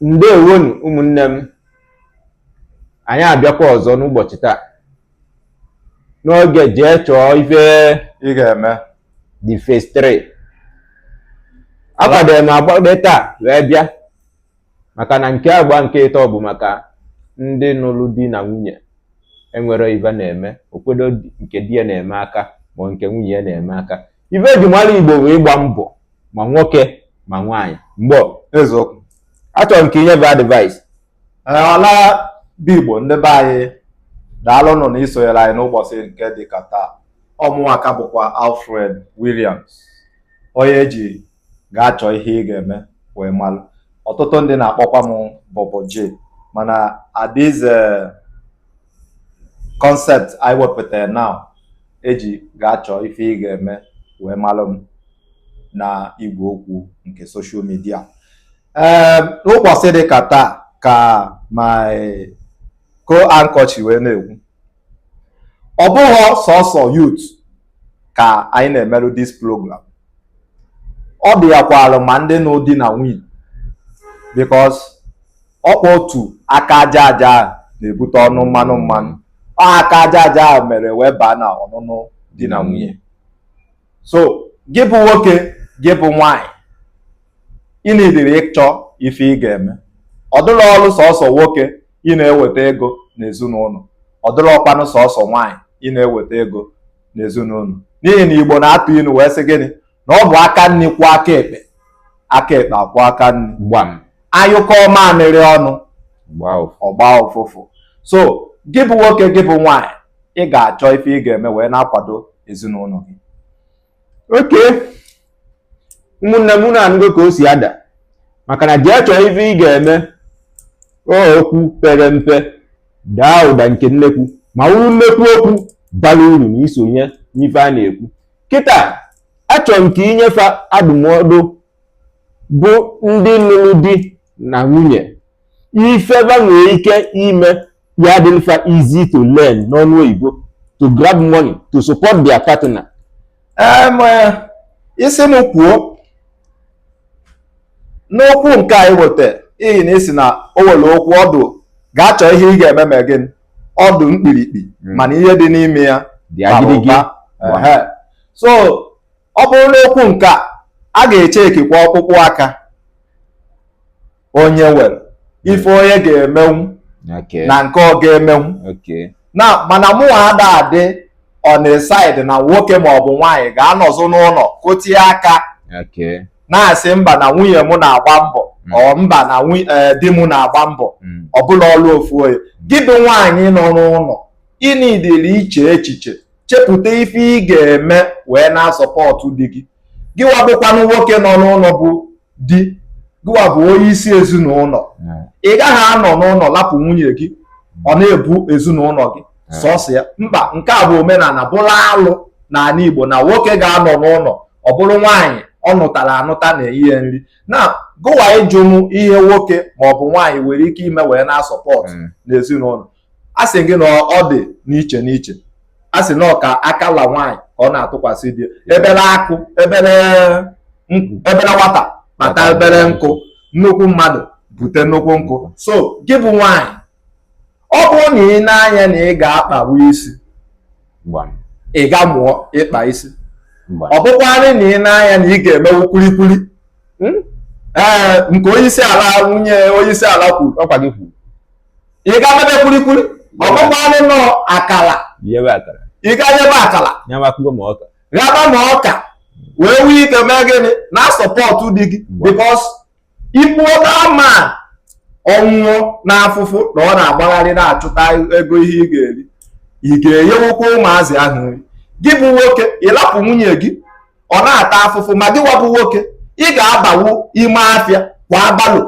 ndewonu ụmụnne m anyị abịakwa ọzọ n'ụbọchị taa n'oge jee chọọ ife ị ga-eme the phase 3 akwadoro m agbade taa wee bịa maka na nke agba nke ịtọ bụ maka ndị nụrụ di na nwunye enwere ife na-eme okwedo nke di ya na-eme aka ma nke nwunye ya na-eme aka ife eji mara igbo wụ ịgba mbọ ma nwoke ma nwaanyị mgbe eziokwu achọrọ m ka inye fa advice ọla bụ igbo ndị be anyị daalụnụ na isonyere anyị n'ụbọchị nke dị ka taa ọ mụwa ka bụkwa Alfred Williams onye eji gaa chọọ ihe ị ga-eme wee malụ ọtụtụ ndị na-akpọkwa m Bobo J mana this concept anyị wepụtara now eji gaa chọọ ife ị ga-eme wee malụ m na igwe okwu nke social media ee n'ụbọchị dị ka taa ka my co-anchor chi wee na-ekwu ọ bụghị sọsọ youth ka anyị na-emerụ this program ọ dị ya kwalụ ma ndị nụrụ di na nwunye because ọkwa otu aka aja aja na-ebute ọnụ mmanụ mmanụ ọ aka aja aja mere wee baa na ọnụnụ di na nwunye so gị bụ nwoke gị bụ nwaanyị ị needịrị ịchọ ife ị ga-eme ọ dịrọ ọrụ sọsọ nwoke ị na-eweta ego n'ezinụlọ ọ dịrọkwanụ sọsọ nwaanyị ị na-eweta ego n'ezinụlọ n'ihi na igbo na-atụ inu wee sị gịnị na ọ bụ aka nri kwọọ aka ekpe aka ekpe akwọọ aka nri anyụkọọ mamịrị ọnụ ọ gbaa ụfụfụ so gị bụ nwoke gị bụ nwaanyị ị ga-achọ ife ị ga-eme wee na-akwado ezinụlọ gị okay ụmụnne m unu anụgo ka o si ada maka na jee chọọ ife ị ga-eme okwu pere mpe daa ụda nke nnekwu ma wụrụ nnekwu okwu bara uru na isonye n'ife a na-ekwu kịta achọrọ m ka inye fa adụmọdụ bụ ndị lụrụ di na nwunye ife fa nwere ike ime ya dị mfe easy to learn n'onu oyibo to grab money to support their partner um, eh, isi m kwuo n'okwu nke anyị weta ihi na ị sị na o nwere okwu ọdụ gaa chọọ ihe ị ga-eme ma gịnị ọ dụ mkpirikpi hmm. mana ihe dị n'ime ya dị agidigi so ọ bụrụ n'okwu nke a a ga-echekikwa ọkpụkpụ aka onye nwere ife onye ga-emenwu na nke ọ ga-emenwu na mana mụnwa ada adị on the side na nwoke maọbụ nwaanyị ga-anọzụ n'ụlọ kụtie aka na-asị mba na nwunye m na-agba mbọ mm. ọ mba na eh, di m na-agba mbọ mm. ọ bụlọ ọlụ ofu onye gị bụ nwaanyị nọ n'ụlọ ị needịrị iche echiche chepụta ife ị ga-eme wee na-asọpọtụ di gị gịwa bụkwanụ nwoke nọ n'ụlọ bụ di gịwa bụ onye isi ezinụlọ ị gaghị anọ n'ụlọ lapụ nwunye gị ọ na-ebu ezinụlọ gị sọsọ ya mba nke a bụ omenala bụrụ alụ n'ala Igbo na nwoke ga-anọ n'ụlọ ọ bụrụ nwaanyị ọ nụtara anụta na-enye nri na gịwa ị jụ m ihe nwoke maọbụ nwaanyị nwere ike ime wee na-asupport mm. n'ezinụlọ a sị gị na ọ dị n'iche n'iche a sị na ọka aka la nwaanyị ka ọ na-atụkwasị di ebere akụ ebere nkụ ebere nwata kpata ebere nkụ nnukwu mmadụ bute nnukwu nkụ so gị bụ nwaanyị ọ bụrụ na ị nee anya na ị ga-akpawa isi ị gaa mụọ ịkpa isi ọ bụkwanụ na ị nee anya na ị ga-emewu kwulikwuli hmm? ee nke onyeisi ala nwunye onyeisi ala kwuru ị gaa mebe kwurikwuri ọ bụkwanụ n'ọ akala ị gaa ghebe akala ghaba ma ọka wee nwee ike mee gịnị na-asupport di gị because ịbụ oke ama ọ nwụọ n'afụfụ na ọ na-agbagharị na-achụta ego ihe ị ga-eri ị ga-enyewukwa ụmụazị ahụ nri gị bụ nwoke ị lapụ nwunye gị ọ na-ata afụfụ ma gịwa bụ nwoke ị ga-abawu ime afịa kwaa barrow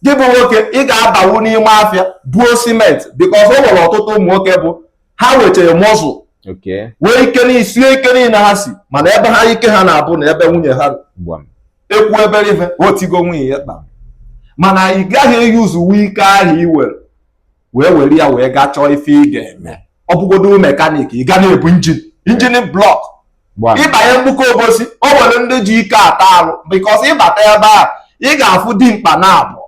gị bụ nwoke ị ga-abawu n'ime afịa buo cement because o nwere ọtụtụ ụmụ nwoke bụ ha nwechara muscle nwee ike n'isie ike niile ha si mana ebe ha ike ha na-abụ na ebe nwunye ha e kwuo ebere ife o tigo nwunye ya kpa mana ị gaghị eyuzuwu ike ahụ i nwere wee were ya wee gaa chọọ ife ị ga-eme ọ bụgodo mechanic ị ga na-ebu engine engine block ị banye Mgbuka Obosi o nwere ndị ji ike ata arụ because ị bata ebe a ị ga-afụ dimkpa naabọ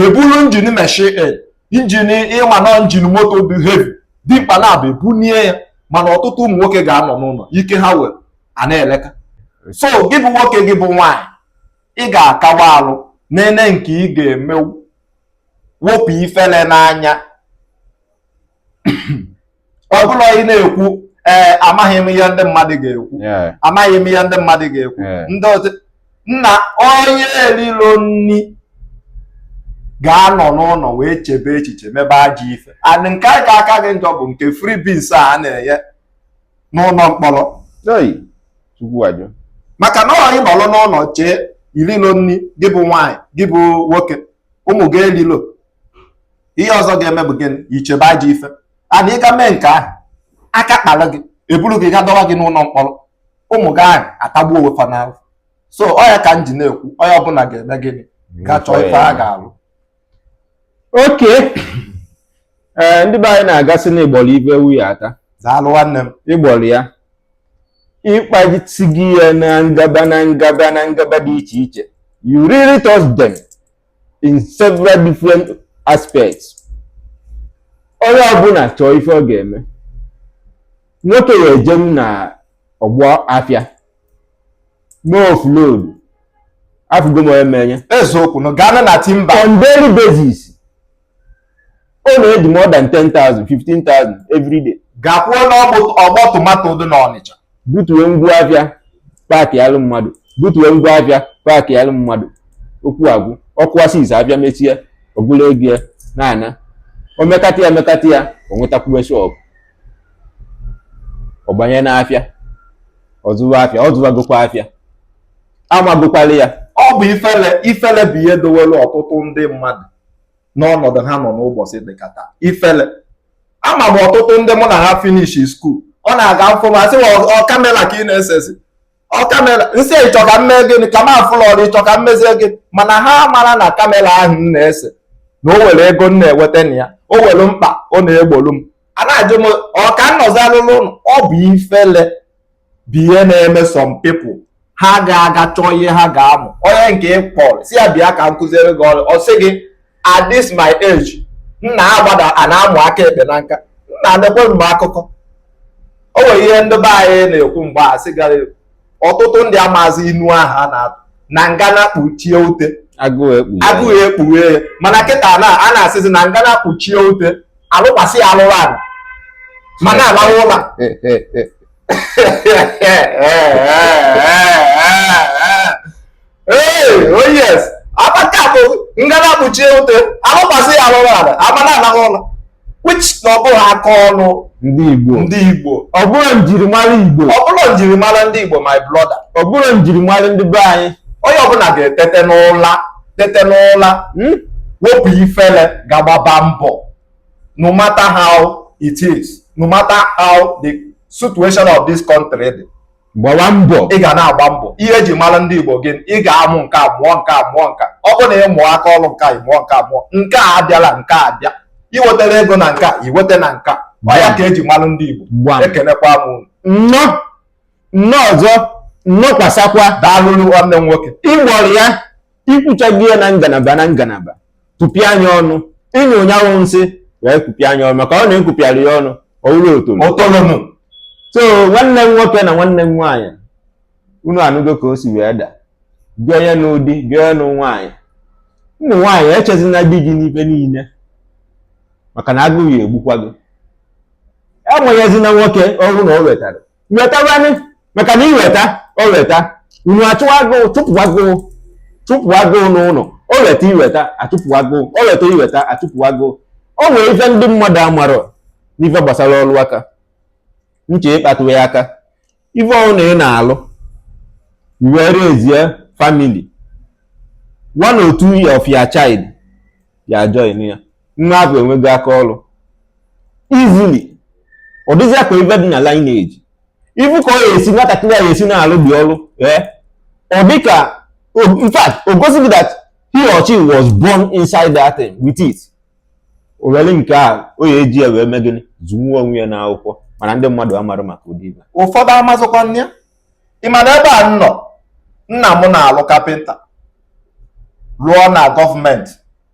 ebulu engine machine engine ị ma na engine moto dị heavy dimkpa naabọ ebunie ya mana ọtụtụ ụmụ nwoke ga-anọ n'ụlọ ike ha nwere a na-eleka so gị bụ nwoke gị bụ nwaanyị ị ga-akawa alụ nene nke ị ga-emewu wepụ ifele n'anya ọ bụlọ ị na-ekwu ee eh, amaghị m ihe ndị mmadụ ga-ekwu amaghị m ihe ndị mmadụ ga-ekwu ndị otu na onye erilọ nri ga-anọ n'ụlọ wee chebe echiche mebe ajọ ife and nke a ga-aka gị njọ bụ nke free beans a na-enye n'ụlọ mkpọrọ maka na ọ ịnọrọ n'ụlọ chee irilo nri gị bụ nwaanyị gị bụ nwoke ụmụ gị erilo ihe ọzọ ga-eme bụ gịnị ichebe ajọ ife and ị ga mee nke ahụ aka kpara gị eburu gị ga dọwa gị n'ụlọ mkpọrọ ụmụ gị ahụ atagbuo onwe fa n'ahụ so ọ ya ka m ji na-ekwu onye ọbụla ga-eme gịnị ga chọọ ife a ga-alụ oke ee ndị be anyị na-agasị na ị gbọrọ ibe ewu ya ata daalụ nwanne m ị gbọrọ ya ị kpajisi gị ya na ngaba na ngaba na ngaba dị iche iche you really touch them in several different aspects onye ọbụla chọọ ife ọ ga-eme nwoke ya ejenwu na ọgbọ afịa mee offload afụgo m onye menye eziokwu na gaa na timba on daily basis ọ na-eji more than 10,000 15,000 every day gakwuo n'ọgbọ tomato dị n'Ọnịcha butuo ngwa afịa paakị alụ mmadụ butuo ngwa afịa paakị alụ mmadụ okwu agwụ ọ kụa six afịa mechie o bulu ego ya na-ana o mekata ya mekata ya o nwetakwuwe shop ọ banye n'afịa ọ zụwa afịa ọ zụwagokwa afịa amagokwala ya ọ bụ ifele ifele bụ ihe dowere ọtụtụ ndị mmadụ n'ọnọdụ ha nọ n'ụbọchị dịka taa ifele ama m ọtụtụ ndị mụ na ha finish school ọ na-aga afụ m asị ọ camera ka ị na-esezi ọ camera m sị ị chọ ka m mee gịnị ka m afụlọ ọrụ ị chọ ka m mezie gị mana ha mara na camera ahụ m na-ese na o nwere ego m na-eweta na ya o nwere mkpa ọ na-egbolu m a na-ajụ m ọ ka m nọzi anọ n'ụlọ ọ bụ ifele bụ ihe na-eme some people ha ga-aga chọọ ihe ha ga-amụ onye nke ị kpọrọ sị ya bịa ka m kụziere gị ọrụ ọ sị gị at this my age nna agbada a na-amụ aka ekpe na nka nna adekwe m akụkọ o nwere ihe ndị be anyị na-ekwu mgbe a sị gara ekwu ọtụtụ ndị amaazị inu ahụ a na-atụ na ngana kpuchie ute agụụ ekpughe ya mana kịta na a na-asịzi na ngana kpuchie ute alụkwasị ya alụrụ ala ma na-alahụ ụla ee oh yes abaka bụ ngana kpuchie ute alụkwasị ya alụrụ ala ma na-alahụ ụla which na ọ bụghị aka ọrụ ndị Igbo ndị Igbo ọ bụrọ njirimara Igbo ọ bụrọ njirimara ndị Igbo my brother ọ bụrọ njirimara ndị be anyị onye ọbụla ga-etete n'ụla tete n'ụla hmm? wepụ ifele ga gbaba mbọ no matter how it is no matter how the situation of this country dị gbawa mbọ ị ga na-agba mbọ ihe eji mara ndị Igbo gị ị ga-amụ nke a mụọ nke a mụọ nke a ọ bụ na ị mụọ aka ọrụ nke a ị mụọ nke a mụọ nke a abịala nke a bịa i wetara ego na nke a i weta na nke a ọ ya ka eji mara ndị Igbo ekenekwa m unu nnọọ nnọọ ọzọ nnọkwasakwa daalụrụ nwanne m nwoke ị gbọrọ ya i kwuchago ya na ngalaba na ngalaba tụpịa nya ọnụ ị nyụọ nya nsị wee kụpịa nya ọnụ maka na a kụpịarọ ya ọnụ ọ wụrụ otolo so nwanne m nwoke na nwanne m nwaanyị unu anụgo ka o si wee daa gị onye nụrụ di gị onye nụrụ nwaanyị ụmụ nwaanyị echezina di gị n'ife niile maka na agụụ ya-egbukwa gị enweghịzina nwoke ọrụ na o wetara wetawanị maka na i weta o weta unu achụwa agụụ chụpụ agụụ chụpụ agụụ n'ụnọ o weta i weta a chụpụ agụụ o weta i weta a chụpụ agụụ o nwere ife ndị mmadụ amarọ n'ife gbasara ọrụ aka m chọ ịkpatụ ya aka ife ọrụ na ị na-alụ i were zie family one or two of your child ya join ya nwa ahụ enwego aka ọrụ easily ọ dịzịa ka ife dị na lineage ị fụ ka ọ ga-esi nwatakịrị a ga-esi na-alụ ụdị ọrụ ee ọ dị ka in fact o gosi gị that he or she was born inside that thing with it o nwere ike ọ ya-eji ya wee mee gịnị zụnwuo onwe ya n'akwụkwọ mana ndị mmadụ amarọ maka ụdị ife ụfọdụ amazụkwa nne ị ma na ebe a m nọ nna m na-alụ kapịnta lụọ na gọọmenti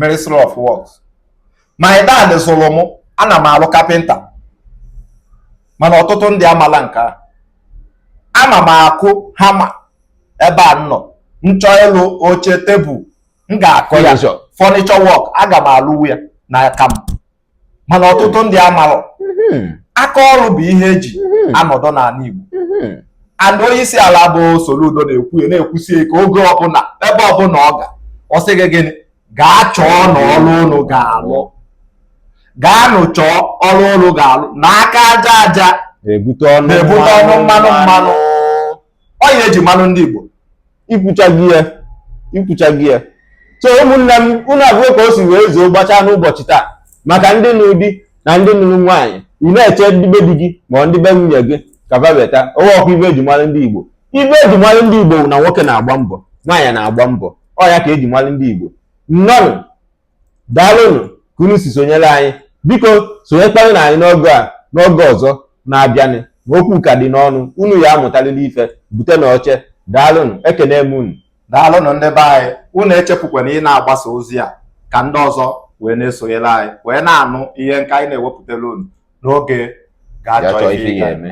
ministry of works my dad zụrụ m ana m alụ kapịnta mana ọtụtụ ndị amala nke a ama m akụ hama ebe a m nọ m chọọ ịlụ oche tebụl m ga-akụ ya furniture work aga m alụwu ya n'aka m mana ọtụtụ ndị amarọ mm-hmm. aka ọrụ bụ ihe eji mm-hmm. anọdụ n'ala Igbo mm-hmm. and onye isi ala bụ Soludo na-ekwu ya na-ekwusi ike oge ọbụla ebe ọbụla ọ ga ọ sị gị gịnị gaa chọọnụ ọrụ unu ga-alụ gaanụ chọọ ọrụ unu ga-alụ na aka aja aja na-ebute ọnụ mmanụ mmanụ ọ ihe eji mara ndị Igbo i kwuchago ya i kwuchago ya so ụmụnne m unu afụgo ka o si wee zoo gbachaa n'ụbọchị taa maka ndị nụrụ di na ndị nụrụ nwaanyị ị na-eche ndị be di gị ma ọ ndị be nwunye gị ka va weta ọ bụrọkwa ife eji mara ndị Igbo ife eji mara ndị Igbo na nwoke na-agba mbọ nwaanyị na-agba mbọ ọ ya ka eji mara ndị Igbo nnọọnụ daalụnụ ka unu si sonyere anyị biko sonyekwanụ na anyị n'oge a n'oge ọzọ na-abịanụ ma okwu ka dị n'ọnụ unu ya-amụtalịlị ife butenụ oche daalụnụ ekene m unu daalụnụ ndị be anyị unu echefukwana ị na-agbasa ozi a ka ndị ọzọ wee na-esonyere anyị wee na-anụ ihe nke anyị na-ewepụtara unu n'oge gaa chọọ ife ị ga-eme